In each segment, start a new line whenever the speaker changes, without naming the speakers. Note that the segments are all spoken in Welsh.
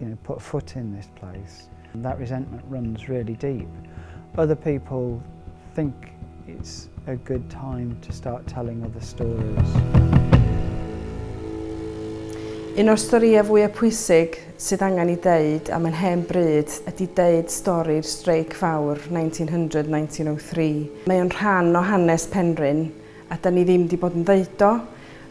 you know, put a foot in this place. And that resentment runs really deep. Other people think it's a good time to start telling other stories.
Un o'r storïau fwyaf pwysig sydd angen i ddeud am yn hen bryd ydy deud stori'r streic fawr 1900-1903. Mae o'n rhan o hanes Penrhyn a da ni ddim wedi bod yn ddeud o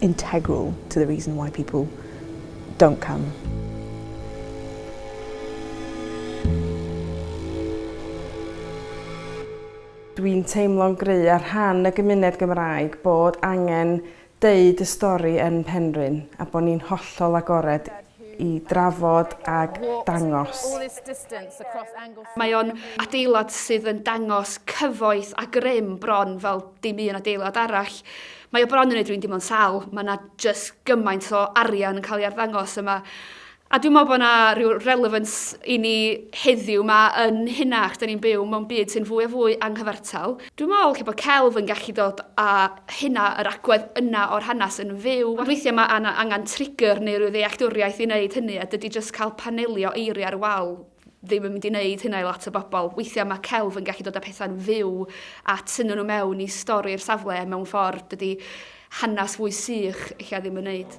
integral to the reason why people don't come.
Dwi'n teimlo'n gry ar rhan y gymuned Gymraeg bod angen deud y stori yn Penrhyn a bod ni'n hollol agored i drafod ag dangos.
Mae o'n adeilad sydd yn dangos cyfoeth a grym bron fel dim un adeilad arall. Mae o bron yn neud rywun dimlo'n sal, ma' 'na jyst gymaint o arian yn ca'l ei arddangos yma. A dwi'n me'wl bo' 'na ryw relevance i ni heddiw 'ma yn hynna achos 'dan ni'n byw mewn byd sy'n fwy a fwy anghyfartal. Dwi'n meddwl lle bod celf yn gallu dod a hynna, yr agwedd yna o'r hanes yn fyw. Ond weithiau mae yna angen trigger neu rhyw ddealltwriaeth i wneud hynny a dydy jyst cael panelio eiriau ar y wal ddim yn mynd i wneud hynna i lot o bobl. Weithiau mae celf yn gallu dod â pethau'n fyw a tynnu nhw mewn i stori'r safle mewn ffordd dydy hanes fwy sych ella ddim yn wneud.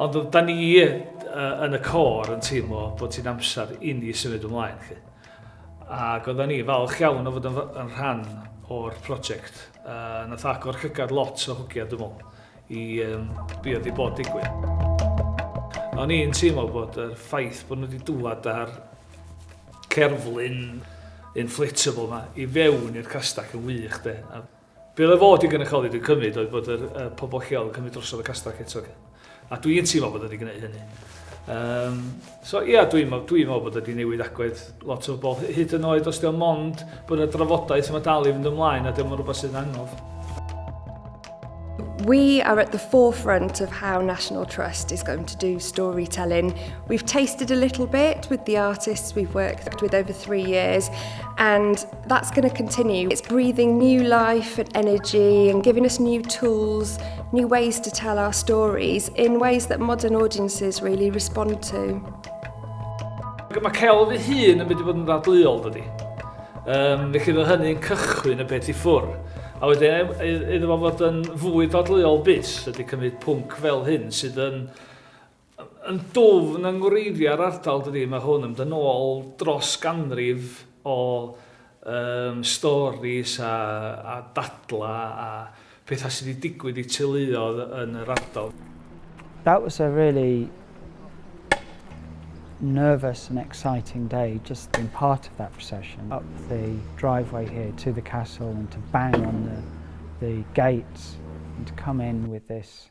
Ond da ni yn y cor yn teimlo bod ti'n amser i ni symud ymlaen. Chi. Ac oedden ni falch iawn o fod yn, yn rhan o'r prosiect. Uh, nath agor llygad lot o hwgiad, dwi'n meddwl, i um, be oedd i bod digwydd. O'n i'n teimlo bod yr ffaith bod nhw wedi dŵad ar cerflun inflatable yma i fewn i'r castac yn wych de. Be oedd fod i gynrychioli dwi'n cymryd oedd bod yr uh, pobl lleol yn cymryd drosodd y castell eto. A dwi'n teimlo bod wedi gwneud hynny. Um, so ia, yeah, dwi'n dwi meddwl bod wedi newid agwedd lot o bobl hyd yn oed os diolch mond bod yna drafodaeth yma dal i fynd ymlaen a diolch yn rhywbeth sy'n anodd.
We are at the forefront of how National Trust is going to do storytelling. We've tasted a little bit with the artists we've worked with over three years and That's going to continue. It's breathing new life and energy and giving us new tools, new ways to tell our stories in ways that modern audiences really respond to.
Mae celf ei hun yn mynd i fod yn ddadleuol, dydy. Um, felly roedd hynny'n cychwyn y peth i ffwr. A wedyn, e, e, iddo fo fod yn fwy dadleuol bus, ydy cymryd pwnc fel hyn sydd yn yn dwfn yng ngwreiddiau'r ardal dydy, mae hwn yn mynd yn ôl dros ganrif o um, storis a, a dadla a pethau sydd wedi digwydd i teuluodd yn yr ardal. That was
a really nervous and exciting day just being part of that procession up the driveway here to the castle and to bang on the, the gates and to come in with this